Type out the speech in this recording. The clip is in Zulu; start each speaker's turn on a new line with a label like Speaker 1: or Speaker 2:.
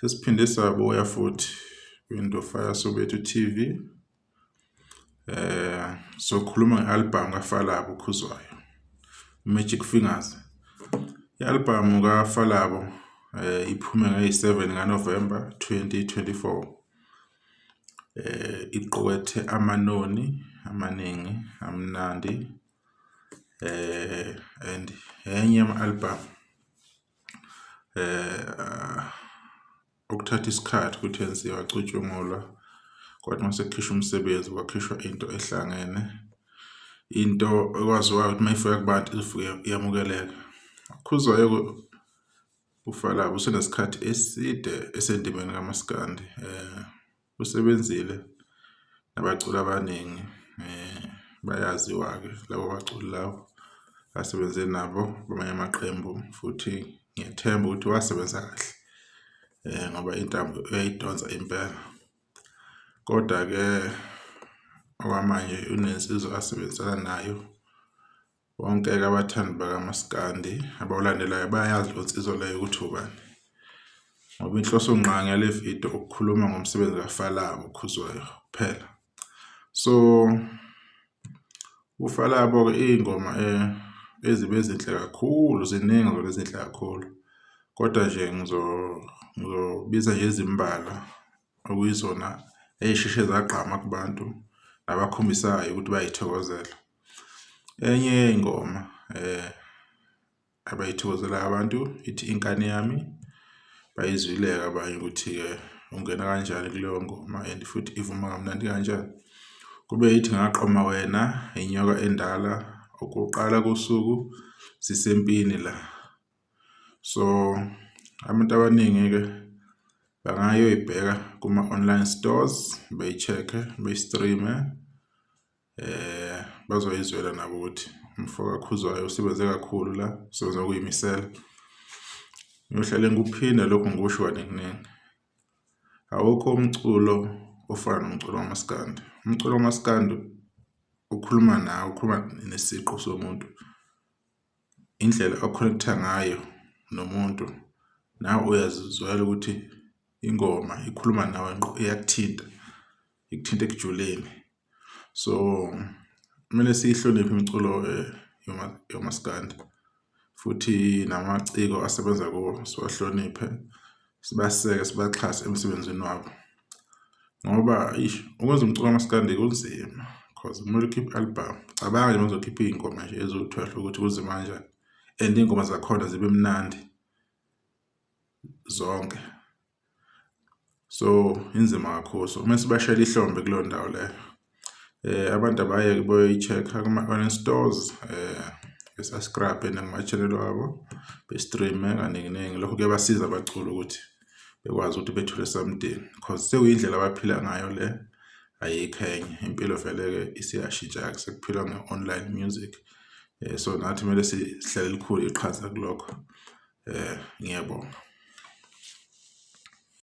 Speaker 1: Sesiphinde sabuya futhi kwinto Fire Soweto TV. Eh sokhuluma ngealbum kaFalabo ukhuzwayo. Magic Fingers. Ialbum kaFalabo eh iphume nge-7 kaNovember 2024. Eh iqokwethe amanoni amaningi amnandi eh and enye ama-album eh ukuthatha isikhathi ukuthi yenziwe acutshungulwa kodwa uma sekukhishwa umsebenzi kwakhishwa into ehlangene into ekwaziwayo ukuthi uma ifika kubantu izofike iyamukeleka khuzwayo ufalaba usenesikhathi eside esendimeni kamaskandi um eh, usebenzile nabaculi abaningi um bayaziwa-ke labo baculi lawo asebenze nabo kwamanye amaqembu futhi ngiyethemba ukuthi wasebenza kahle um ngoba intambo uyayidonsa impela kodwa-ke okwamanje unensizwa asebenzisana nayo Bonke-ke abathandi bakamaskandi abawulandelayo bayazi lo nsizwa leyo ukuthi ubani ngoba inhloso ngqangi yale video ukukhuluma ngomsebenzi kafalabo khuzwayo kuphela so ufalabo-ke iy'ngoma eh, ezibe ezinhle kakhulu ziningi zona ezinhle kakhulu kodwa nje ngizobiza nje izimbala okuyizona ey'sheshe zagqama kubantu nabakhombisanayo ukuthi bayithokozela Enye yey'ngoma abayithokozelayo abantu ithi inkani yami, bayizwile-ke abanye ukuthi-ke ungena kanjani kuleyo ngoma and futhi ivuma kamnandi kanjani. Kube ithi ngaqoma wena, inyoka endala, ukuqala kosuku sisempini la. So, abantu abaningi-ke bangayoyibheka kuma-online stores, beyi-check-e, beyi-stream-e, eh bazoyizwela nabo ukuthi umfoka Khuzwayo usebenze kakhulu la usebenza kuyimisela ngiyohlale ngikuphinda lokho ngikusho kaninginingi awukho umculo ofana nomculo wamaskandi umculo wamaskandi ukhuluma nawe ukhuluma nesiqu somuntu indlela oconnecta ngayo nomuntu nawe uyazizwela ukuthi ingoma ikhuluma nawe ngqo iyakuthinta ikuthinta ekujuleni so kumele siyihloniphe imiculo eh, yomaskandi futhi namaciko asebenza kuwo siwahloniphe sibaseke sibaxhase emsebenzini wabo ngoba ish ukwenza umculo kamaskandi kunzima cause kumele ukhiphe album cabanga nje mazokhipha iy'ngoma nje eziwu-twelve ukuthi kunzima kanjani and iy'ngoma zakhona zibe mnandi zonke so inzima kakhulu so kumele sibashele ihlombe kuleyo ndawo leyo eh abantu abayeke boyi-check-a kuma-online stores eh esascrabhe nakuma-channel wabo be-streame kaninginingi lokho kuyabasiza abaculi ukuthi bekwazi ukuthi bethole something because sekuyindlela abaphila ngayo le ayikho enye impilo vele-ke isiyashintsha-ke sekuphilwa nge-online music eh, so nathi kumele sihlale likhulu iqhaza kulokho eh ngiyabonga